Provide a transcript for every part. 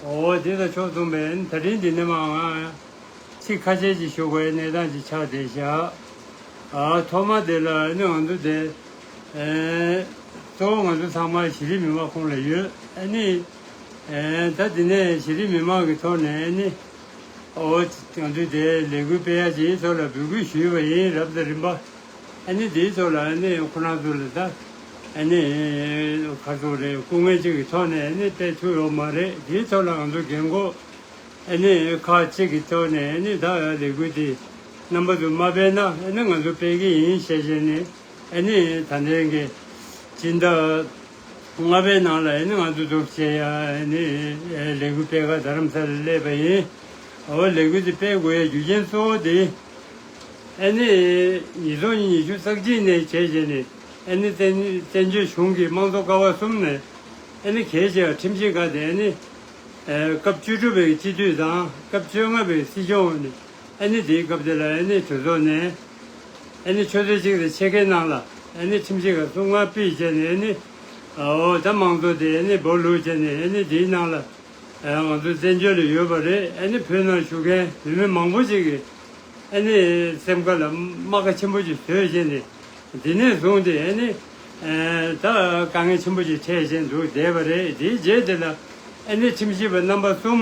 འོ་འོ་དེ་དང་ཕྱོགས་མཚུངས་པས་ད་ཕྲིན་གྱི་སྣལ་མའང། ཚིག་ཁ་ཆད་ཀྱིས་ཞུགས་པའི་གནས་དང་གྱི་ཕྱག་བདེ་བཞག། ཨ་ཐོག་མ་དེ་ལ་ནི་ང་ཚོ་དེ། གཙོ་བོ་ང་ཚོ་ཚང་མ་གཞི་རིམ་མི་མང་ཁོང་ལ་ཡོད་ཨེ་ནི། ད་དེ་ནས་གཞི་རིམ་མི་མང་གི་ཐོག་ནས་ཨེ་ནི། འོ་ང་ཚོས་དེ་ལས་འགུལ་སྤེལ་ཡག་ཅིག་ཡིན་ཚོ་ལ་འབོད་སྐུལ་ཞུས་པ་ཡིན་རབས་ད་རིམ་པ། ཨ་ནི་དེའི་ཐོག་ལ་ཨ་ནི་ཁོ་རང་ཚོ་ལ་ད་ཨ་ནི་ཁ་ཚོགས་རེད་སྐུ་ངལ་ཅིག་གི་ཐོག་ནས་ཨ་ནི་སྤེལ་ཐུབ་ཡོག་མ་རེད་དེའི་ཐོག་ལ་ང་ཚོ་རྒན་འཁོག་ཨ་ནི་ཁག་ཅིག་གི་ཐོག་ནས་ཨ་ནི་ད་ལས་འགུལ་དེ་རྣམ་པ་དུ་མ་སྤེལ་ན་ཨ་ནི་ང་ཚོ་སྤེལ་གི་ཡིན་ཤེས་བཞིན་ནི་ཨ་ནི་ད་ལས་འགལ་སྤྱི་ཟླ་ལྔ་པའི་ནང་ལ་ཨ་ནི་ང་ཚོ་རྫོགས་ཆེ་ཡ་ཨ་ནི་ལས་འགུལ་སྤེལ་ཁར་རྡ་རམ་ས་ལ་སླེབས་པ་ཡིན་འོ་ལས་འགུལ་དེ་སྤེལ་དགོས་ཡའི་རྒྱུ་རྐྱེན་གཙོ་བོ་དེ། ཨན་ནི་ཉིས་སྟོང་ཉི་ཤུ་རྩ་གཅིག་ནས་གྱེས་རྗེས་ནས་ཨན་ནི་བཙན་བྱོལ་གཞུང་གི་དམངས་གཙོ་ཀ་བ་གསུམ་ནས་ཨན་ནི་གྱེས་རྗེས་བར་ཁྲིམས་ཆད་བཀག་སྟེ་ཨན་ནི་སྐབས་བཅུ་དྲུག་པའི་སྤྱི་འཐུས་དང་སྐབས་བཅོ་ལྔ་པའི་སྲིད་སྐྱོང་འོག་ནས་ཨན་ནི་དེའི་སྐབས་དེ་ལ་ཨན་ནི་གྲོས་ཚོགས་ནས་ཨན་ནི་ཆོས་ཚོགས་གཅིག་ལ་ཆད་འགེལ་གནང་ལ་ཨན་ནི་ཁྲིམས་ཆད་ཁ་གསུམ་ངང་སྤེལ་བྱས་ནས་ཨན་ནི་ཨོ་ད་དམངས་གཙོ་དེ་ཨན་ནི་སྦོ་ལུགས་བྱས་ནས་ཨན་ནི་དེའི་ནང་ལ། ང་ཚོའི་བཙན་བྱོལ་ལ་ཡོད་པ་རེད་ཨ་ནི་བོད་ནང་བཞུགས་མཁན་བོད་མི་མང་པོ་ཞིག་གིས་ཨ་ནི་སེམས་ཁ་ལ་རྨ་ཁ་ཆེན་པོ་ཞིག་བཟོས་བཞིན་ཏེ་འདི་ནས་བཟུང་སྟེ་ཨ་ནི་ད་དཀའ་ངལ་ཆེན་པོ་ཞིག་འཕྲད་བཞིན་འདུག་བསྡད་པ་རེད་དེའི་རྗེས་འདི་ལ་ཨ་ནི་ཁྲིམས་ཞིབ་པ་རྣམ་པ་གསུམ་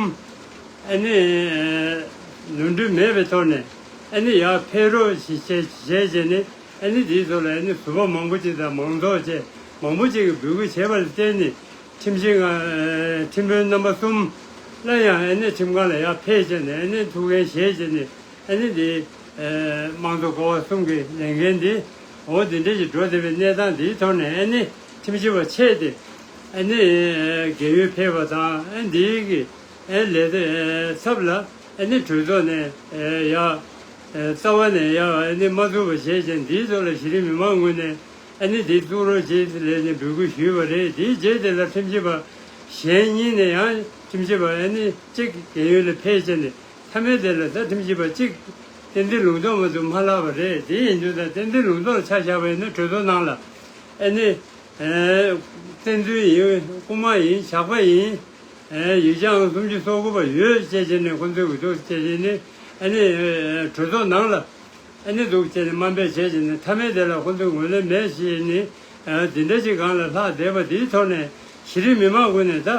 ཨ་ནི་ནོར་འཁྲུལ་མེད་པའི་ཐོག་ནས་ཨ་ནི་ཡར་འཕེལ་རོགས་བྱས་རྗེས་ནས་ཨ་ནི་འདིའི་ཐོག་ལ་ཨ་ནི་ཟུར་པ་མང་པོ་ཅིག་དང་མང་ཚོགས་ཆེ་མང་པོ་ཅིག་གིས་འབོད་སྐུལ་བྱས་པ་ལ་བརྟེན་ནས། ཁྲིམས་ཞིབ་ཁང་ཁྲིམས་དཔོན་རྣམ་པ་གསུམ་སླར་ཡང་ཨན་ནན་ཁྲིམས་ཁང་ལ་ཡར་ཕེབས་བྱས་ནས་ཨན་ནན་ཐུགས་འགན་བཞེས་རྗེས་ནས་ཨན་ནན་དེའི་དམངས་གཙོ་སྐོར་བ་གསུམ་གྱི་ལས་འགན་འདི་འོ་དེ་འདྲས་ཀྱིས་འགྲོ་བདེ་བའི་གནས་སྟངས་འདིའི་ཐོག་ནས་ཨན་ནན་ཁྲིམས་ཞིབ་པ་ཆད་དེ་ཨན་ནན་རྒས་ཡོལ་ཕེབས་པ་དང་ཨན་དེའི་གི་ཨན་ལས་ཚབ་ལ་ཨན་ནན་གྲོས་ཚོགས་ནས་ཡར་རྩ་བ་ནས་ཡར་ཨན་ནན་མ་འཛུགས་པ་བྱས་རྗེས་འདིའི་ཐོག་ལ་གཞི་རིམ་མི་མང་ངོས་ནས། ཨ་ནི་དེ་གཏོང་རོགས་ཞེས་ལན་གཉིས་འབོད་སྐུལ་ཞུས་པ་རེད་དེའི་རྗེས་དེ་ལ་ཁྲིམས་ཞིབ་པ་གཞན་གཉིས་ནས་ཡང་ཁྲིམས་ཞིབ་པ་ཨ་ནི་གཅིག་རྒན་ཡོལ་ལས་ཕེབས་བྱས་ནས་མཐའ་མའི་དེ་ལ་ད་ཁྲིམས་ཞིབ་པ་གཅིག་གཏན་འདི་ལུང་རྟོགས་མ་ཐུབ་མ་ལགས་པ་རེད་དེ་ཡིན་དུས་ད་གཏན་འདི་ལུང་རྟོགས་ཆ་བཞག་པ་ཡིན་ན་གྲོས་ཚོགས་ནང་ལ་ཨ་ནི་གཏན་འདི་ཡིན་རྐུ་མ་ཡིན་ཇག་པ་ཡིན་ཡུལ་ལྗང་ཨང་སུམ་ཅུ་སོ་དགུ་པ་ཡོད་ཅེས་བྱས་ནས་ཁོ་ཚོའི་འུ་ཐུག་བྱས་ཤིང་ཨ་ནི་གྲོས་ཚོགས་ནང་ལ། ཨེ་ནི་འདུག་ཅེས་ནི་སྨྲ་འབད་བྱེད་ཅིང་ནི་ཐ་མལ་དེ་ལ་ཧོན་ཏུ་ངོས་ལེན་མེད་ཅེས་ནི། འདི་འདྲ་ཅིག་གང་ལ་ལྷག་བསྡད་པ་འདིའི་ཐོག་ནས་གཞི་རིམ་མི་མང་ཀུན་ནས་ད་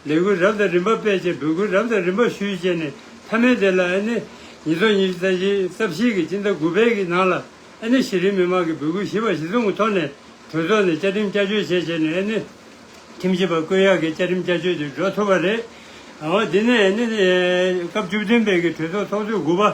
ལེ་གུས་རབ་དང་རིམ་པ་སྤེལ་ཅིང་འབུལ་གུས་རབ་དང་རིམ་པ་ཞུས་ཅེས་ནི་ཐ་མལ་དེ་ལ་ཨེ་ནི། ཉིས་སྟོང་ཉི་ཤུ་རྩ་བཞི་རྩ་བཞི་གི་སྤྱི་ཟླ་དགུ་པའི་གི་ནང་ལ་ཨེ་ནི་གཞི་རིམ་མི་མང་གི་འབུལ་གུས་བཞི་པ་གཞི་ཚུགས་ཐོག་ནས་གྲོས་ཚོགས་ནས་བཅའ་ཁྲིམས་བསྐྱར་བཅོས་བྱེད་ཅེས་ནི་ཨེ་ནི། ཁྲིམས་ཞིབ་པ་ཀུན་ཡག་གིས་བཅའ་ཁྲིམས་བསྐྱར་བཅོས་དེ་འགྲོ་ཐུབ་པ་རེད། འོ་འདི་ནི་ཨེ་ནི། སྐབས་བཅུ་བདུན་པའི་གི་གྲོས་ཚོགས་ཚོགས་དུས་དགུ་པ།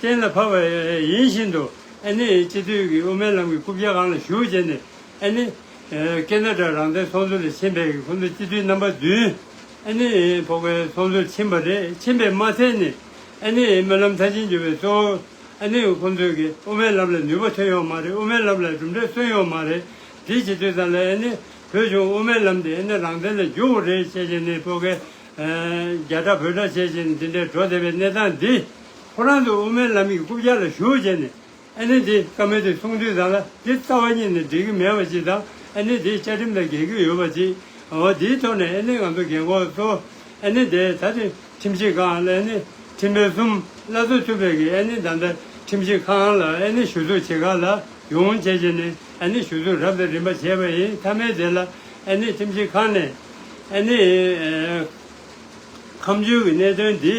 གཏན་ལ་ཕབ་པ་ཡིན་བཞིན་དུ་ཨེ་ནི་སྤྱི་མཐུས་ཀྱི་དབུ་མའི་ལམ་གྱི་རྐུབ་བཀྱག་ཁང་ལ་བཞུགས་བྱས་ནས་ཨེ་ནི། ཀེ་ན་ཀྲ་རང་བདེན་ཚོགས་འདུ་ལས་ཕྱིན་པའི་ཁོང་ཚོ་སྤྱི་མཐུས་རྣམ་པ་བདུན་ཨེ་ནི་ཕོག་པའི་ཚོགས་འདུར་ཕྱིན་པ་རེད་ཕྱིན་པས་མ་ཚད་ནས་ཨེ་ནི་སྨོན་ལམ་མཐར་ཕྱིན་བརྒྱུད་པའི་གཙོ་བོ་ཨེ་ནི་ཁོང་ཚོས་ཀྱི་དབུ་མའི་ལམ་ལ་ནུས་པ་ཐོན་ཡོང་མ་རེད་དབུ་མའི་ལམ་ལ་གྲུབ་འབྲས་སོན་ཡོང་མ་རེད་དེ་སྤྱི་མཐུས་ཙམ་ལ་ཨེ་ནི་བོད་གཞུང་དབུ་མའི་ལམ་དེ་ཨེ་ནི་རང་བདེན་ལ་བསྒྱུར་བོ་རེད་བྱས་བྱས་ནས་ཕོག་ཀེ་རྒྱ་ཁྲ་བོད་ཁྲ་བྱས་བྱས་ནས་འདི་འདྲའི་གྲོ་བདེ་བའི་གནས་སྟངས་འདི། ཁོ་རང་ཚོ་དབུ་མའི་ལམ་གྱི་རྐུབ་བཀྱག་ལ་ཞུགས་བྱས་ནས། ཨ་ནེ་དེ་ཀ་མེད་དེ་གསུང་དུས་ཙང་ལ་དེ་རྩ་བ་ཉིད་ནས་འགྲིག་གི་མེད་པ་ཅིག་དང་ཨ་ནེ་དེའི་བཅའ་ཁྲིམས་ལ་འགལ་གྱི་ཡོད་པ་ཅིག་འོ་དེའི་ཐོག་ནས་ཨ་ནེ་ང་ཚོ་རྒན་འཁོགས་ཚོ། ཨ་ནེ་དེ་ད་དེ་ཁྲིམས་ཆད་ཁང་ལ་ཨ་ནེ་ཁྲིམས་དཔོན་གསུམ་བླ་རྩོད་ཐུབ་པའི་གི་ཨ་ནེ་ད་ལྟ་ཁྲིམས་ཆད་ཁང་ལ་ཨ་ནེ་ཞུ་གཏུག་བྱེད་ཁ་ལ་ཡོང་བྱས་བྱས་ནས་ཨ་ནེ་ཞུ་གཏུག་རབས་དང་རིམ་པ་བྱས་པ་ཡིན་མཐའ་མའི་དེ་ལ་ཨ་ནེ་ཁྲིམས་ཆད་ཁང་ནས་ཨ་ནེ་ཁམས་ཆོས་ཀྱི་གནད་དོན་འདི།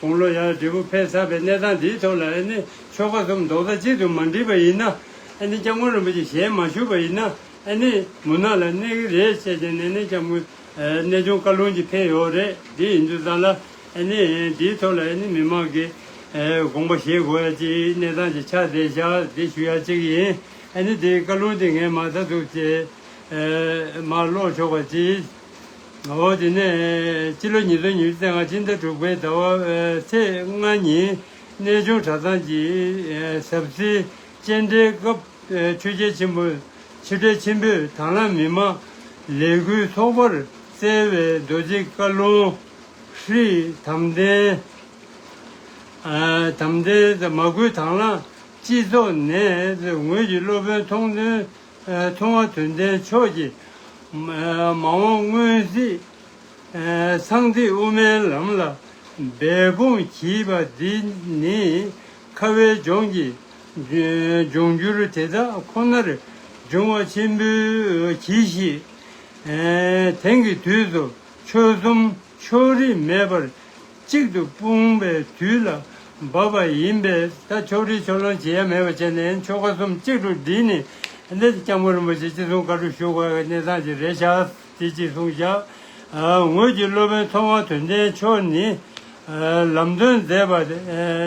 དགུང་ལོ་ཡར་འབྲས་བུ་འཕེལ་ཚར་བའི་གནས་སྟངས་འདིའི་ཐོག་ལ་ཨེ་ནི་ཆོལ་ཁ་གསུམ་རྡོག་རྩ་གཅིག་ཏུ་མ་འགྲིལ་བ་ཡིན་ན། ཨེ་ནི་སྐྱབས་མགོན་རིན་པོ་ཆེ་ཞལ་མ་བཞུགས་པ་ཡིན་ན་ཨེ་ནི་མུན་ནག་ལ་གནས་ཀྱི་རེད་བཤད་བྱས་ནས་ནི་སྐྱབས་མགོན་གནས་ཆུང་བཀའ་ལུང་གཅིག་འཕེལ་ཡོད་རེད་དེ་ཡིན་དུས་ཙང་ལ་ཨེ་ནི་འདིའི་ཐོག་ལ་ཨེ་ནི་མི་མང་གིས་དགོངས་པ་བཞེས་དགོས་ཡ་ཅིག་གནས་སྟངས་ཅིག་ཆགས་བསྡད་ཤག་དེ་ཞུ་ཡ་ཅིག་ཡིན་ཨེ་ནི་དེའི་བཀའ་ལུང་དེ་ངས་མ་ད་ཐུག་ཅེས་མར་ཀློག་ཆོག་པ་ཅིག། དེ་ནས་སྤྱི་ལོ་ཉིས་སྟོང་ཉེར་བཞི་ཚེས་ལྔ་སྤྱི་ཟླ་དྲུག་པའི་ཟླ་བ་ཚེས་ལྔ་ཉིན་གནས་ཆུང་གྲྭ་ཚང་གི་ཟབ་གསེར་སྤྱན་འདྲེན་སྐབས་ཆོས་རྒྱལ་ཆེན་པོ་ཕྱི་དྲིལ་ཆེན་པོས་དྭང་བླངས་མི་མང་ལས་འགུལ་ཚོགས་པར་བསྩལ་བའི་རྡོ་རྗེ་བཀའ་ལུང། ཧྲཱི། དམ་ལྡན། དམ་ལྡན། མ་བསྐུལ་དྭང་བླངས་སྤྱི་ཚོགས་ནས་ངོས་ཀྱི་སློབ་དཔོན་མཐོང་ཐོས། མཐོང་བ་དོན་ལྡན་ཕྱོགས་ཀྱི་མ་འོངས་སྔོན་གཟིགས། སངས་རྒྱས་དབུ་མའི་ལམ་ལ་འབད་འབུངས་བགྱིས་པ་འདི་ནི། ཁ་བའི་ལྗོངས་ཀྱི་འབྱུང་འགྱུར་དེ་དག་ཁོ་ནར་འབྱུང་བ་ཆེན་པོའི་གྱིས་ཤིག། དེང་གི་དུས་སུ་ཆོལ་གསུམ་ཕྱོགས་རིས་མེད་པར་གཅིག་ཏུ་སྤུངས་པའི་དུས་ལ་བབ་པ་ཡིན་པས་ད་ཕྱོགས་བསྒྲིགས་ཕྱོགས་ལོན་བྱེད་ཡ་མེད་པ་བྱས་ནས་ཆོ་ག་གསུམ་གཅིག་ཏུ་བསྒྲིལ་ནས་སླེ་སྐྱབས་མགོན་རིན་པོ་ཆེ་སྤྱི་གསུང་བཀའ་དྲུག་ཞུ་བ་གནས་ཚང་གཅིག་རེ་བཞག་དེ་གཅིག་གསུང་བཞག་ངོས་ཀྱི་སློབ་དཔོན་མཐོ་དབང་དོན་ལྡན་མཆོག་ནི་ལམ་སྟོན་མཛད་པ་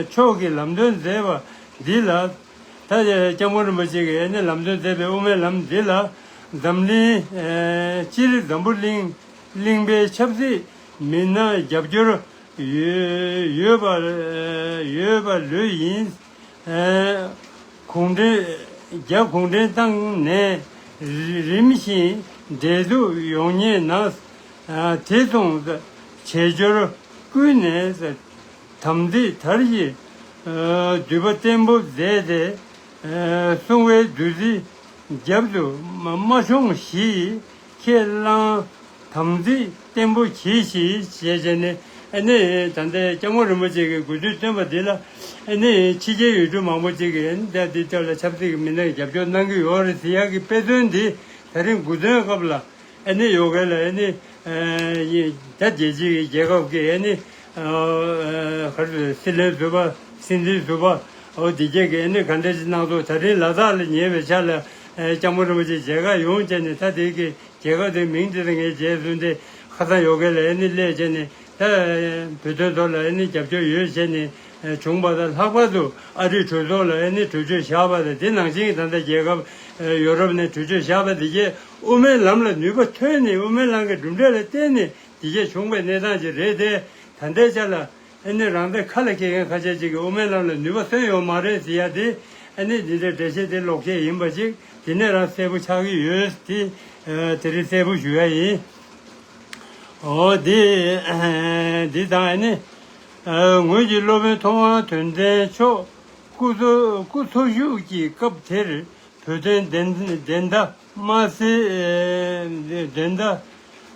མཆོག་གིས་ལམ་སྟོན་མཛད་པ་འདི་ལ་ད་སྐྱབས་མགོན་རིན་པོ་ཆེ་གིས་ནས་ལམ་སྟོན་མཛད་པའི་དབུ་མའི་ལམ་འདི་ལ་འཛམ་གླིང་སྤྱིར་འཛམ་བུ་གླིང་གླིང་པའི་ཆབ་སྲིད། མི་སྣ་རྒྱབ་སྐྱོར་ཡོད་པ་ལོས་ཡིན། གུང་ཁྲན་རྒྱ་གུང་ཁྲན་ཏང་ནས་རིམ་བཞིན་འབྲེལ་གཏུག་ཡོང་ཉེ་ན། དེ་མཚུངས་བྱེས་འབྱོར་ཀུན་ནས་དམ་ཚིག་དར་གཞི་འདུས་པ་བརྟན་པོ་མཛད་དེ། སྲུང་བའི་བདུད་རྩི་རྒྱབ་ཏུ་མ་ཤོང་གཞིས་ཁས་བླངས། དམ་ཚིག་བརྟན་པོ་གྱིས་ཤིག་ཞེས་བྱས་ནས་ཨེ་ནི་ད་ལྟའི་སྐྱབས་མགོན་རིན་པོ་ཆེ་གི་དགོས་འདུན་བཏོན་པ་འདི་ལ་ཨེ་ནི་ཕྱི་རྒྱལ་ཡུལ་གྲུ་མང་པོ་ཅིག་གིས་ཨེ་ནི་ལྟས་འདི་ལྟ་ལ་ཆབ་སྲིད་ཀྱི་མི་སྣ་གིས་རྒྱབ་སྐྱོར་གནང་གི་ཡོད་རེད་ཟེར་ཡག་གི་དཔེ་མཚོན་འདི་ད་རིང་དགུ་ཚན་སྐབས་ལ་ཨེ་ནི་ཡོད་མཁན་ལ་ཨེ་ནི་རྒྱ་རྒྱལ་སྤྱི་གི་རྒྱལ་ཁབ་ཀྱི་ཨེ་ནི་སྲིད་བློན་ཟུར་པ་སྲིད་འཛིན་ཟུར་པ་འོ་དེ་བརྒྱད་ཀྱིས་ཨེ་ནི་ག་འདྲ་ཅིག་གནང་ཐུབ་ད་རིང་ལ་དྭགས་ལ་ཉེ་བའི་ཆ་ལ། སྐྱག་མོ་རིན་པོ་ཆེ་མཇལ་ཁ་ཡོང་བྱས་ནས་ད་དེ་གི་མཇལ་ཁ་དེ་མིང་དེ་དང་ངའི་རྗེས་བཟུང་སྟེ་ཁ་སང་ཡོ་གའི་ལ་ཨེ་ནི་སླད་བྱས་ནས་ད་བོད་དོན་ཐོག་ལ་ཨེ་ནི་རྒྱབ་སྐྱོར་ཡོད་བྱས་ནས་བྱུང་བ་དང་ལྷག་པར་དུ་ཨ་རིས་གྲོས་ཚོགས་ལ་ཨེ་ནི་གྲོས་ཆོད་བཞག་པ་དང་དེ་ནང་བཞིན་ད་ལྟ་རྒྱལ་ཁབ་ཡོ་རོབ་ནས་གྲོས་ཆོད་བཞག་པ་འདི་རྒྱའི་དབུ་མའི་ལམ་ལ་ནུས་པ་ཐོན་ནས་དབུ་མའི་ལམ་གྱི་གྲུབ་འབྲས་ལ་བརྟེན་ནས་འདི་རྒྱ་བྱུང་བའི་གནས་སྟངས་ཅིག་རེད་དེ་ད་ལྟའི་ཆ་ལ། ཨེ་ནི་རང་སྡེ་ཁ་ལ་སྐྱེལ་མཁན་ཁ་ཤས་ཅིག་གིས་དབུ་མའི་ལམ་ལ་ནུས་པ་སོན་ཡོད་མ་རེད་ཟེར་ཡ་དེ། ཨེ་ནི་འདི་འདྲའི་འགྲེལ་བཤད་དེ་ལོག་ཁྱད་ཡིན་པ་ཅིག་དེ་ནས་རང་གསལ་པོ་ཆགས་ཀྱི་ཡོད། དེ་རིགས་གསལ་པོ་ཞུ་ཡ་ཡིན། འོ་དེ། འདི་དང་ཨེ་ནི། ངོས་ཀྱི་སློབ་དཔོན་མཐོ་དབང་དོན་ལྡན་མཆོག། སྐུ་འཚོ་བཞུགས་ཀྱི་སྐབས་དེར་བོད་དོན་བདེན་མཐའ། མ་ཟད། འགྲན་ཟླ་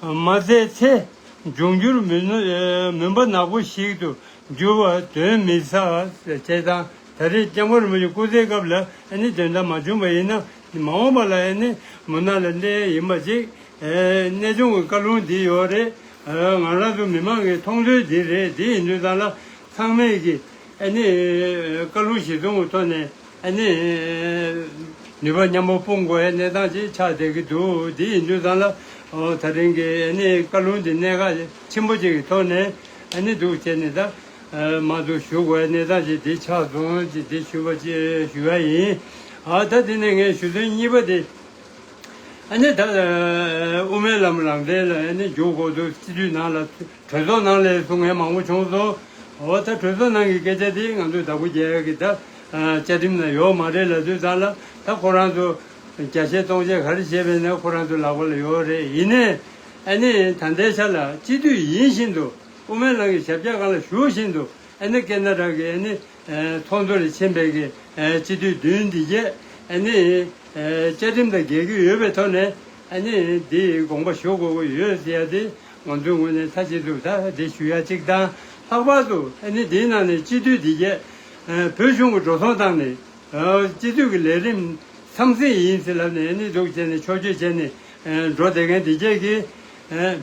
མ་བཙལ་ཚེ་འབྱུང་འགྱུར་མུན་པ་ནག་པོ་ཞིག་ཏུ་འགྱུར་བ་དོན་མི་ཟ། བྱས་ཙང་ད་རེས་རྐྱང་པ་རིན་པོ་ཆེ་སྐུ་ཚེའི་སྐབས་ལ་ནི་འགྲན་ཟླ་མ་བྱུང་བ་ཡིན་ན་མ་འོངས་པ་ལ་ནི་མུན་ནག་ལས་འདས་ཡིན་པ་ཅིག་གནས་ཆུང་གི་བཀའ་ལུང་འདི་ཡོད་རེད། ང་རང་ཚོ་མི་མང་གི་མཐོང་ཚུལ་འདི་རེད་དེ་ཡིན་དུས་ཚང་ལ་ཚང་མས་ཀྱི་ནི་བཀའ་ལུང་ཞིག་བཙོང་བའི་ཐོག་ནས་ཨ་ནི། ནུས་པ་མཉམ་པོ་སྤུངས་དགོས་ཡའི་གནས་སྟངས་ཅིག་ཆགས་བསྡད་ཀྱི་འདུག་དེ་ཡིན་དུས་ཙང་ལ། ད་ཐེངས་ཀྱི་ཨ་ནི་བཀའ་ལུང་འདི་གནད་འགག་ཆེན་པོ་ཅིག་གི་ཐོག་ནས་ཨ་ནི་འདུག་བྱས་ནས་ད། མང་དུ་ཞུ་དགོས་ཡའི་གནས་སྟངས་ཅིག་འདི་ཆགས་སོང་ཅིག་འདི་ཞུ་བ་ཅིག་ཞུ་ཡ་ཡིན། ད་དེ་ནས་ངས་ཞུ་དོན་གཉིས་པ་དེ། ཨ་ནི་ད། དབུ་མའི་ལམ་རང་བཙན་ལ་ཨ་ནི་འཇུག་དགོས་འདུག་སྤྱི་འཐུས་ནང་ལ། གྲོས་ཚོགས་ནང་ལས་སུ་ངལ་མང་པོ་བྱུང་སོང། འོ་ད་གྲོས་ཚོགས་ནང་གི་སྐད་ཆ་དེ་ང་ཚོའི་བདག་པོ་རྒྱལ་གྱི་ད་བཅའ་ཁྲིམས་ན་ཡོག་མ་རེད་ལ་དུས་ཚང་ལ་ད་ཁོ་རང་ཚོ་བརྒྱ་བཤད་སྟོང་བཤད་ག་རེ་བྱེད་པས་ན་ཁོ་རང་ཚོའི་ལག་པ་ལ་ཡོག་རེད་ཡིན་ནའི་ཨ་ནི་ད་འདའི་ཆ་ལ་སྤྱི་འཐུས་ཡིན་བཞིན་དུ་དབུ་མའི་ལང་གི་ཞབས་བཀྱག་གང་ལ་ཞུགས་བཞིན་དུ་ཨ་ནི་སྐད་སྣ་དྲག་གི་ཨ་ནི་ཚོགས་འདུ་ལ་ཕྱིན་པས་གི་སྤྱི་འཐུས་བདུན་འདི་བརྒྱད་ཨ་ནི་བཅའ་ཁྲིམས་དང་འགལ་གྱི་ཡོད་པའི་ཐོག་ནས་ཨ་ནི་འདི་དགོངས་པ་ཞུ་དགོས་ཀྱི་ཡོད་ཟེར་ཡ་དེ། ང་ཚོའི་ངོས་ནས་ཚ་གཅིག་ཏུ་ད་འདྲི་ཞུ་ཡ་གཅིག་དང་ལྷག་པར་དུ་ཨ་ནི་དེའི་ནང་ནས་སྤྱི་འཐུས་འདི་བརྒྱད། བོད་གཞུང་གི་འགྲོ་སོང་བཏང་ནས། སྤྱི་འཐུས་ཀྱི་ལས་རིམ་ཚང་ཟིན་ཡིན་ཟེར་ལབ་ནས་ཨ་ནི་སྡུག་བྱས་ནས་ཆོས་སྤྱོད་བྱས་ནས་འགྲོ་བསྡད་མཁན་འདི་བརྒྱད་ཀྱིས།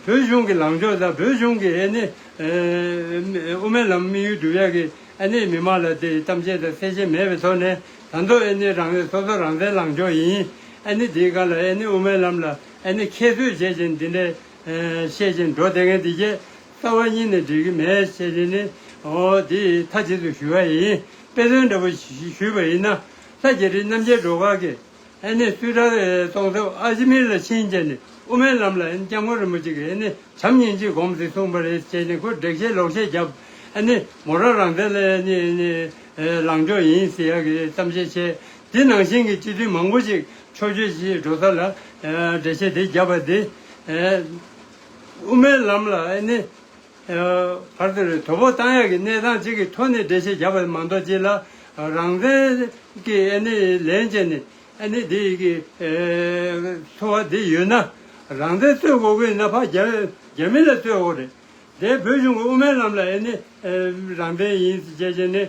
བོད་གཞུང་གི་ལངས་ཕྱོགས་དང་བོད་གཞུང་གི་ཨ་ནི་དབུ་མའི་ལམ་དམིགས་ཡུལ་སྒྲུབ་ཡ་གི་ཨ་ནི་མི་མང་ལ་དེ་གཏམ་བཤད་དང་གསལ་བཤད་མེད་པའི་ཐོག་ནས་དང་ཐོག་ཨ་ནི་རང་རེ་སོ་སོ་རང་བཙན་ལངས་ཕྱོགས་ཡིན། ཨ་ནི་དེའི་སྒང་ལ་ཨ་ནི་དབུ་མའི་ལམ་ལ་ཨ་ནི་ཁྱད་གསོད་བྱས་ཅན་འདི་འདྲའི། ཤེས་བཞིན་འགྲོ་དེ་ངས་འདི་སྐད། རྩ་བ་གཉིས་ནི་འགྲིག་གི་མེད་ཤེས་བཞིན་ནི། འདི་མཐའ་གཅིག་ཏུ་ཞུ་བ་ཡིན། དཔེ་མཚོན་འདྲ་བོ་ཞུས་པ་ཡིན་ན། ལྷ་རྒྱལ་ཁྲི་རྣམ་རྒྱལ་འགྲོ་ཁག་གི། ནི་སུས་གྲགས་གཏོང་ཐབས་ཨ་ཞི་མིར་ལ་ཕྱིན་རྗེས་ནི་དབུ་མའི་ལམ་ལ་སྐྱབས་མགོན་རིན་པོ་ཆེ་གིས་ནི་བྱམས་སྙིང་རྗེ་སྒོམ་ཟིག་གསུངས་པ་རེད་ཅེས་ནི་ཁོས་དྲེགས་བཤད་ལོག་བཤད་བརྒྱབ། ནི་མོ་རང་རང་བཙན་ལ་ནི། ལངས་ཕྱོགས་ཡིན་ཟེར་ཡག་གི་གཏམ་བཤད་བྱས། དེ་ནང་བཞིན་གྱི་སྤྱི་དོན་མང་པོ་ཞིག་ཕྱོགས་ཆོས་ཀྱི་འགྲོ་ས་ལ་འགྲེལ་བྱེད་དེ་བརྒྱབ་པ་དེ། དབུ་མའི་ལམ་ལ་ནི། བར་དོ་རེད་དོ་བོ་བཏང་ཡག་གི་གནས་སྟངས་གཅིག་གི་ཐོག་ནས་འགྲེལ་བྱེད་བརྒྱབ་པ་མ་མདོག་གཅིག་ལ། རང་བཙན་གྱི་ལན་བྱས་ནས་འདི་གི་འཚོ་བ་འདི་ཡོད་ན། རང་བཙན་རྩོད་དགོས་ཀྱི་ན་ཕ་རྒྱ་མི་ལ་རྩོད་འོག་རེད། དེ་བོད་གཞུང་གི་དབུ་མའི་ལམ་ལ་ནི་རང་བཙན་ཡིན་ཅེས་བྱས་ནས་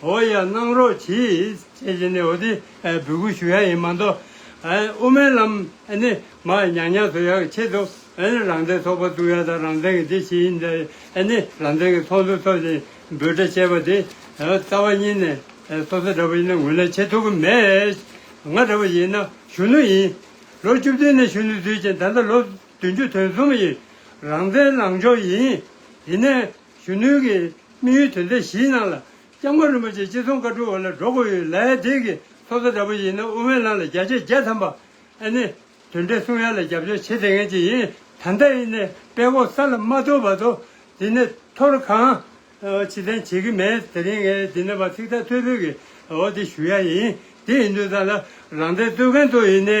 འོ་ཡ་གནང་རོགས་གྱིས་ཅེས་བྱས་ནས་འོ་དེ་འབོད་སྐུལ་ཞུ་ཡ་ཡིན་མ་གཏོགས། དབུ་མའི་ལམ་ནི་མ་ཉག་ཉག་ཚོ་ཡག་ཆེད་དུ་རང་བཙན་ཚོགས་པ་བཙུགས་ཡ་དང་རང་བཙན་གྱི་དེ་བྱེད་ཡིན་ནི་རང་བཙན་གྱི་ཚོགས་འདུ་ཚོགས་ཤིང་འབོད་སྒྲ་བྱས་པ་དེ་རྩ་བ་ཉིད་ནས་སོ་སོ་འདྲ་བོ་ཡིན་ན་ངོས་ལེན་བྱེད་ཐུབ་ཀྱི་མེད། ང་འདྲ་བོ་ཡིན་ན་གཞོན་ནུ་ཡིན། ལོ་བཅུ་བདུན་ནས་གཞོན་ནུ་བརྫུས་ཅིང་ད་ལྟ་ལོ་བདུན་ཅུ་དོན་གསུམ་ཡིན། རང་བཙན་ལངས་ཕྱོགས་ཡིན། ཡིན་ནའི། གཞོན་ནུའི་གི་དམིགས་ཡུལ་དོན་ཚན་བཞིའི་ནང་ལ་ལྕང་མ་རིན་པོ་ཆེ་ཅི་གསུང་བཀའ་དྲུག་འོ་ལ་སྒྲོག་གོ་ཡོད་ལ་ཨེ་དེ་གི་ཚོགས་གཙོ་འདྲ་པོ་ཡིན་ན་དབུ་མའི་ལམ་ལ་བརྒྱ་ཆའི་བརྒྱ་ཐམ་པ་ཨེ་ནི་དོན་འགྲེལ་གསུང་ཡ་ལ་རྒྱབ་སྐྱོར་བྱེད་དེ་ངན་ཅིག་ཡིན་ད་ལྟ་ཨེ་ནི་པད་གོག་ས་ལ་མ་ཐུག་བར་དུ་དེ་ནི་ཐོར་གང་ཕྱི་ཐན་བྱེད་གི་མེད་དེ་རིང་ངས་དེ་ནི་བ་ཚིག་ཐ་ཐོད་ཕུད་གི་འོ་དེ་ཞུ་ཡ་ཡིན་དེ་ཡིན་དུས་ད་ལ་རང་བསྟན་རྩོད་མཁན་ཚོ་ཡིན་ནའི་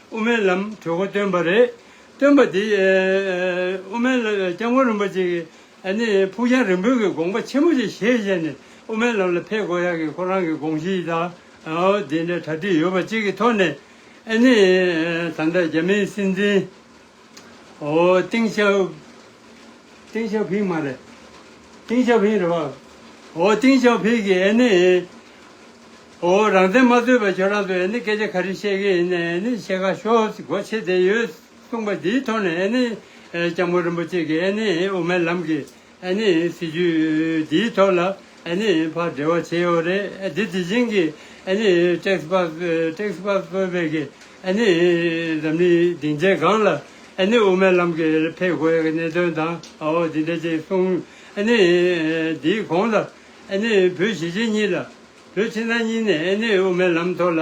དབུ་མའི་ལམ་གྲོས་འགོ་བཏོན་པ་རེད། བཏོན་པ་དེ་དབུ་མའི་ལམ་སྐྱབས་མགོན་རིན་པོ་ཆེ་གིས་ཕུགས་རྒྱང་རིང་པོའི་དགོངས་པ་ཆེན་པོ་ཞིག་བཞེས་བཞེས་ནས་དབུ་མའི་ལམ་ལ་ཕེབས་དགོས་ཡག་གི་ཁོ་རང་གི་དགོངས་གཞི་དང་དེ་འདྲའི་གྲ་སྒྲིག་ཡོད་པ་གཅིག་གི་ཐོག་ནས། ད་ལྟ་རྒྱ་མིའི་སྲིད་འཛིན། ཏིང་ཞའོ་ཏིང་ཞའོ་ཕིང་མ་རེད། ཏིང་ཞའོ་ཕིང་རེད་བ། ཨོ་ཏིང་ཞའོ་ཕིང་གིས་ཨེ་ནི། ཨོ་རང་བཙན་མ་རྩོད་པར་ཁྱོད་རང་ཚོ་ཨེ་ནི་སྐད་ཆ་ག་རེ་བཤད་གི་ཡིན་ཨེ་ནི་བཤད་ཁ་ཤོག་སྒོ་ཕྱེ་བསྡད་ཡོད་གསུངས་པ་འདིའི་ཐོག་ནས་ཨེ་ནི། ཨེ་ལྕམ་མོ་རིན་པོ་ཆེ་གིས་ཨེ་ནི་དབུ་མའི་ལམ་གྱི། ཨེ་ནི་སྲིད་ཇུས་འདིའི་ཐོག་ལ་ཨེ་ནི་ཕར་འབྲེལ་བ་བྱེད་ཡོད་རེད་དེ་དེ་བཞིན་གྱི་ཨེ་ནི་ཏེགས་པཱཀཏེགས་པཱཀཔེ་གི་ཨེ་ནི་འཛམ་གླིང་སྡིངས་ཆའི་སྒང་ལ་ཨེ་ནི་དབུ་མའི་ལམ་གྱི་འཕེལ་དགོས་ཀྱི་གནད་དོན་དང་འོ་དེ་འདྲ་ཅིག་གསུངས་ཨེ་ནི་དེའི་གོང་ལ་ཨེ་ནི་བོད་གཞིས་བྱེས་གཉིས་ལ་བོད་ཕྱི་ནང་གཉིས་ནས་ཨེ་ནི་དབུ་མའི་ལམ་ཐོག་ལ།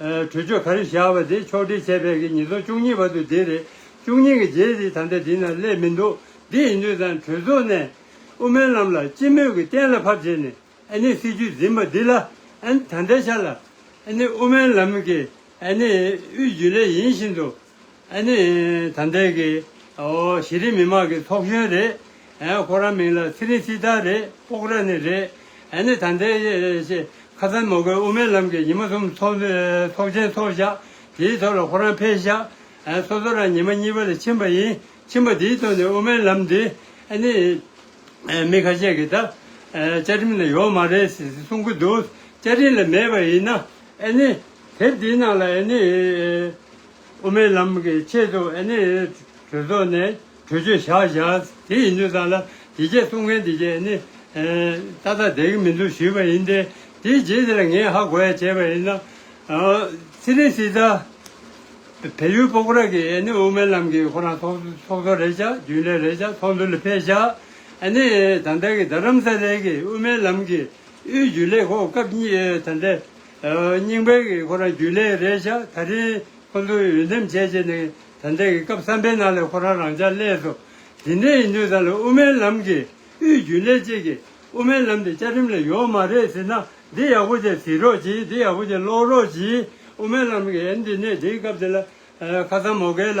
གྲོས་ཆོད་ག་རེ་བཞག་པ་དེ་ཕྱོགས་སྒྲིལ་བྱས་པའི་གི་ཉིས་སྟོང་བཅུ་གཉིས་པ་དུ་དེ་རེད། བཅུ་གཉིས་ཀྱི་རྗེས་དེ་ད་ལྟ་དེ་ན་སླེབས་མི་འདུག་འདི་ཡིན་དུས་ཙང་གྲོས་ཚོགས་ནས་དབུ་མའི་ལམ་ལ་སྤྱི་མོས་ཀྱི་གཏན་ལ་ཕབ་བྱས་ནས་ཨ་ནི་སྲིད་བྱུས་འཛིན་པ་འདི་ལ་ཨ་ནི་ད་ལྟའི་ཆ་ལ་ཨ་ནི་དབུ་མའི་ལམ་གི་ཨ་ནི་དབུས་རྒྱུན་ལས་ཡིན་བཞིན་དུ་ཨ་ནི་ད་འདས་གི་གཞི་རིམ་མི་མང་གི་ཚོགས་གཞོན་རེད། ཁོ་རང་མིང་ལ་ཚེ་རིང་སྐྱིད་ལྟར་རེད་སྤོག་ར་ནི་རེད། ཨ་ནི་ད་འདས་གི་ཁ་སང་མོ་ཀའི་དབུ་མའི་ལམ་གི་ཉི་མ་གསུམ་ཚོགས་ཆེན་ཚོགས་བཞག་དེའི་ཐོག་ལ་ཁོ་རང་ཕེབས་བཞག་སོ་སོ་རང་ཉི་མ་གཉིས་པ་ལ་ཕྱིན་པ་ཡིན་ཕྱིན་པ་དེའི་ཐོག་ནས་དབུ་མའི་ལམ་འདི་ཨ་ནི་མི་ཁ་ཤས་ཀི་ད་བཅའ་ཁྲིམས་ལ་ཡོག་མ་རེད་ཟེ་གསུང་གི་འདུག་བཅའ་ཁྲིམས་ལ་མེད་པ་ཡིན་ན་ཨེ་ནི། དེབ་འདིའི་ནང་ལ་ཨེ་ནི། དབུ་མའི་ལམ་གྱི་ཆེད་དུ་ཨེ་ནི། གྲོས་ཚོགས་ནས་གྲོས་ཆོད་བཞག་བཞག་དེ་ཡིན་དུས་ཙང་ལ་དེ་རྗེས་གསུང་མཁན་དེ་རྗེས་ཨེ་ནི། ཏག་ཏག་བསྡད་ཀྱི་མི་འདུག་ཞུས་པ་ཡིན་ཏེ། དེའི་རྗེས་དེ་ལ་ངས་ཧ་གོ་ཡ་བྱས་པ་ཡིན་ན། ཚེ་རིང་སི་ཏཱ། བལ་ཡུལ་པོ་ཀོ་ར་གིས་ཨེ་ནི་དབུ་མའི་ལམ་གྱིས་ཁོ་རང་ཚོགས་གཙོ་རེད་བཞག་རྒྱུན་ལས་རེད་བཞག་ཚོགས་འདུ་ལ་ཕེབས་བཞག་ཨེ་ནི། ད་ལྟ་གི་རྡ་རམ་ས་ལའི་གིས་དབུ་མའི་ལམ་གྱི་དབུས་རྒྱུན་ལས་ཁོ་སྐབས་གཉིས་ད་འདྲེ། རྙིང་པའི་གི་ཁོ་རང་རྒྱུན་ལས་རེད་ཤག་ད་རིང་ཁོ་ཚོ་འོས་འདེམས་བྱས་རྗེས་ནས་ད་འདྲེ་གི་སྐབས་བསམ་པའི་ནང་ལས་ཁོ་རང་རང་ཅག་ཀླད་སོ། དེ་འདྲེ་ཡིན་དུས་ད་ལོ་དབུ་མའི་ལམ་གི་དབུས་རྒྱུན་ལས་གཅིག་གི་དབུ་མའི་ལམ་དེ་བཅའ་ཁྲིམས་ལས་ཡོག་མ་རེད་ཟེར་ན་འདི་ཡག་པོ་ཅིག་ཟིག་རོགས་གྱིས་འདི་ཡག་པོ་ཅིག་ཀློག་རོགས་གྱིས་དབུ་མའི་ལམ་གི་ཨན་འདི་ནས་འདིའི་སྐབས་དེ་ལ་ཁ་སང་མོ་གས་ལ་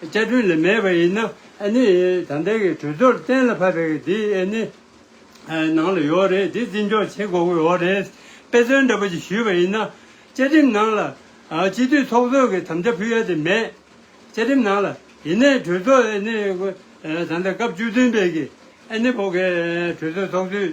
བཅའ་ཁྲིམས་ལས་མེད་པ་ཡིན་ན་ཨ་ནི་ད་ལྟའི་གི་གྲོས་ཚོགས་གཏན་ལ་ཕབ་པའི་གི་དེ་ཨ་ནི་ནང་ལ་ཡོད་རེད་དེ་བརྩི་འཇོག་བྱེད་དགོས་གི་ཡོད་རེད་དཔེ་མཚོན་འདྲ་པོ་ཞིག་ཞུས་པ་ཡིན་ན། བཅའ་ཁྲིམས་ནང་ལ་སྤྱི་འཐུས་ཚོགས་གཙོས་གི་དམ་བཅའ་ཕུལ་ཡ་དེ་མེད། བཅའ་ཁྲིམས་ནང་ལ་ཡིན་ནའི་གྲོས་ཚོགས་ཨ་ནི་ད་ལྟ་སྐབས་བཅུ་བདུན་པའི་གི་ཨ་ནི་བོ་གི་གྲོས་ཚོགས་ཚོགས་དུས་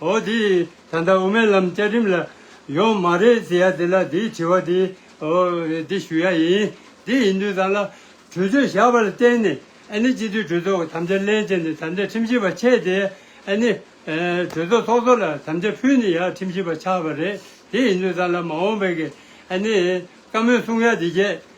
འོ་དེས་ད་ལྟ་དབུ་མའི་ལམ་བཅའ་ཁྲིམས་ལ་ཡོང་མ་རེད་ཟེར་ཡ་དེ་ལ་དེའི་དྲི་བ་དེ་འདི་ཞུ་ཡ་ཡིན། དེ་ཡིན་དུས་ད་ལ་གྲོས་ཆོད་བཞག་པ་ལ་བརྟེན་ནས་ཨ་ནི་སྤྱི་འཐུས་གྲོས་ཚོགས་ཀྱི་དམ་བཅའ་ལན་བཅད་ནས་དམ་བཅའ་ཁྲིམས་ཞིབ་པ་ཆད་དེ་ཨ་ནི་གྲོས་ཚོགས་ཚོགས་གཙོ་ལ་དམ་བཅའ་ཕུལ་ནས་ཡ་ཁྲིམས་ཞིབ་པ་ཆགས་པ་རེད་དེ་ཡིན་དུས་ད་ལ་མ་འོངས་པའི་གི་ཨ་ནི་བཀའ་མོལ་གསུང་ཡ་དེ་རྗེས་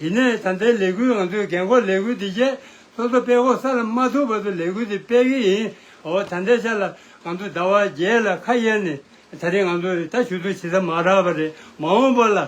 དེ་ནས་ད་ལྟའི་ལས་འགུལ་ང་ཚོས་རྒན་འཁོགས་ལས་འགུལ་འདི་བཅས་སོ་སོ་པད་ཁོག་ས་ལ་མ་ཐུག་བར་དུ་ལས་འགུལ་འདི་སྤེལ་གྱི་ཡིན། འོ་ད་ལྟའི་ཆ་ལ་ང་ཚོ་ཟླ་བ་བརྒྱད་ལ་ཁ་གཡར་ནས་ད་རེས་ང་ཚོ་རེ་ད་ཞུ་གཏུགས་བྱེད་ས་མ་རག་པ་རེད་མ་འོངས་པ་ལ་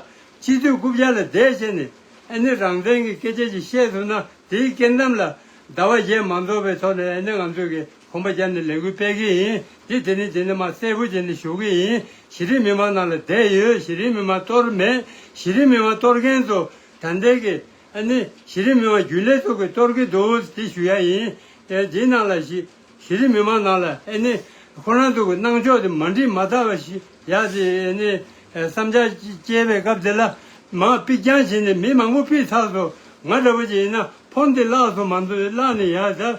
སྤྱི་འཐུས་རྐུབ་བཅག་ལ་བསྡད་བྱས་ནས་ཨ་ནི་རང་བཙན་གྱི་སྐད་ཆ་ཅིག་བཤད་ཐུབ་ན་དེའི་སྐེ་འདམ་ལ་ཟླ་བ་བརྒྱད་མ་འཛོགས་པའི་ཐོག་ནས་ཨ་ནི་ང་ཚོས་ཀྱི་ཁོམ་པ་བརྒྱབ་ནས་ལས་འགུལ་སྤེལ་གི་ཡིན། འདི་དེ་ནས་དེ་ནས་མ་གསལ་བོ་བྱས་ནས་བཞུགས་ཀྱི་ཡིན། གཞི་རིམ་མི་མང་ནང་ལ་བསྡད་ཡོད་གཞི་རིམ་མི་མང་གཏོར་མེད། གཞི་རིམ་མི་མང་གཏོར་མཁན་ཚོ་དྲང་བདེན་གྱི། ཨ་ནི། གཞི་རིམ་མི་མང་རྒྱུན་ལས་ཚོགས་ཀྱིས་གཏོར་གྱི་འདུག་དེ་ཞུ་ཡ་ཡིན། དེའི་ནང་ལ་གཞི། གཞི་རིམ་མི་མང་ནང་ལ་ཨེ་ནི། ཁོ་རང་ཚོ་གི་གནང་ཕྱོགས་དེ་མ་འགྲིག་མ་གདའ་བ་ཞིག་ཡ་དེ་ཨེ་ནི། བསམ་འཆར་སྐྱེལ་བའི་སྐབས་དེ་ལ། མང་དཔིག་རྐྱང་བྱས་ནས་མི་མང་པོ་དཔིག་ཚགས་སོ། ང་འདྲ་བོ་ཅིག་ཡིན་ན་ཕོར་འདི་བརླགས་སོང་མ་འདུག་བརླགས་ནས་ཡ་ད།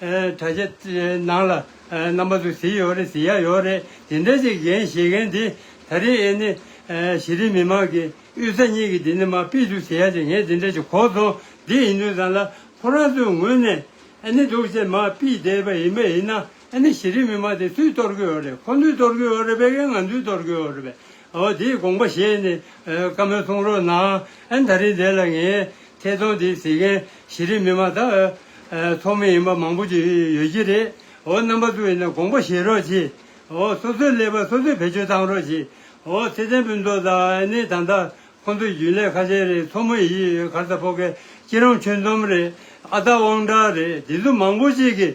དྲ་རྒྱ་ནང་ལ་རྣམ་པ་ཚོ་ཟི་ཡོད་རེད་ཟི་ཡ་ཡོད་རེད་ཇི་འདྲ་ཞིག་གཞན་བཤད་མཁན་དེ་ད་རེས་ཨེ་ནི། གཞི་རིམ་མི་མང་གི་དབུས་རྩ་གཉིས་ཀྱི་དེ་ནི་མ་དཔེ་འདུག་ཟི་ཡ་ཅིག་ངས་དེ་འདྲ་ཞིག་གོ་སོང་འདི་ཡིན་དུས་ཙང་ལ་ཁོ་རང་ཚོའི་ངོས་ནས་ཨེ་ནི་འདུག་ཅེས་མ་དཔེ་བསྡད་པ་ཡིན་པ་ཡིན་ན་ཨེ་ནི་གཞི་རིམ་མི་མང་དེ་སུས་གཏོར་གི་ཡོད་རེད་ཁོ་ཚོས་གཏོར་གི་ཡོད་རེད་པས་ང་ཚོས་གཏོར་གི་ཡོད་རེད་པས་དེའི་དགོངས་པ་བཞེས་ནས་བཀའ་མོལ་གཏོང་རོགས་གནང། ད་རིང་འདི་ལ་ངས་ཐད་གཏོང་འདི་གཟིགས་མཁན་གཞི་རིམ་མི་མང་དང། ཚོགས་མི་ཡིན་པ་མང་པོ་ཞིག་ཡོད་ཀྱི་རེད། རྣམ་པ་ཚོས་ཡིན་ན་དགོངས་པ་བཞེས་རོགས་གྱིས། སོ་སོའི་ཀླད་པ་སོ་སོས་བེད་སྤྱོད་གཏང་རོགས་གྱིས། ཚེ་བརྟན་ཕུན་ཚོགས་དང་ནི་ད་ལྟ་ཁོང་ཚོའི་རྒྱུན་ལས་ཁ་ཤས་རེད་ཚོགས་མི་ཡིས་གར་ས་ཕོ་ཁའི་སྐྱིད་རོང་ཆོས་འཛོམས་རེད་ཨ་སྟག་དབང་གྲགས་རེད་འདི་ཚོ་མང་པོ་ཅིག་གིས་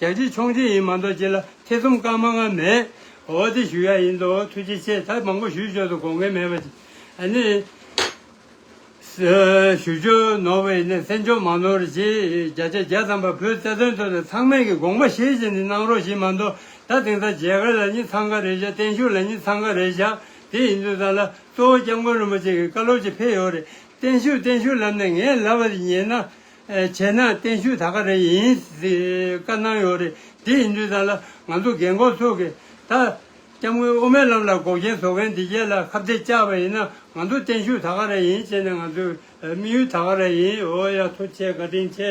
རྒྱལ་སྤྱིའི་ཆོག་མཆན་ཡིན་མ་མདོག་ཅི་ལ་ཐེ་ཚོམ་བཀག་མ་གནང་མེད། འོ་དེ་ཞུ་ཡག་ཡིན་འདུག་ཐུགས་རྗེ་ཆེ་ད་མང་པོ་ཞུས་ཆོག་ཏུ་དགོངས་འགལ་མེད་པ། ནི། ཞུ་ཆོ་ནོར་བའི་ནི་སེམས་ཆོག་མ་ནོར་རྗེས་བརྒྱ་ཆ་བརྒྱ་ཙམ་པ་བོའི་རྩ་དོན་ཐོག་ནས་ཚང་མས་ཀྱི་དགོངས་པ་བཞེས་བཞེས་ནི་གནང་རོགས་ཞེས་མ་མདོག་ད་དེང་སང་མཇལ་ཁ་ལ་ནི་འཚང་ཁ་རེ་བཞག་བརྟན་བཞུགས་ལ་ནི་འཚང་ཁ་རེ་བཞག་དེ་ཡིན་དུས་ད་ལ་གཙོ་བོ་སྐྱབས་མགོན་རིན་པོ་ཆེ་གི་བཀའ་སློབ་ཅིག་ཕེབས་ཡོད་རེད་བརྟན་བཞུགས་བརྟན་བཞུགས་ལབ་ནས་ངས་ལབ་པ་དེ་ཉན་ན་བྱས་ན་བརྟན་བཞུགས་ད་ག་རེ་ཡིན་བཀའ་གནང་ཡོད་རེད་དེ་ཡིན་དུས་ད་ལ་ང་ཚོ་རྒན་འཁོགས་ཚོ་གི་ད་སྐྱབས་མགོན་དབུ་མའི་ལམ་ལ་འགོག་རྐྱེན་བཟོ་མཁན་འདི་རྒྱལ་ལ་ཁ་བརྡའི་བཅག་པ་ཡིན་ན་ང་ཚོ་བརྟན་བཞུགས་ད་ག་རེ་ཡིན་བྱས་ན་ང་ཚོའི་དམིགས་ཡུལ་ད་ག་རེ་ཡིན་ཨོ་ཡ་ཐུགས་ཆེ་བཀའ་དྲིན་ཆེ།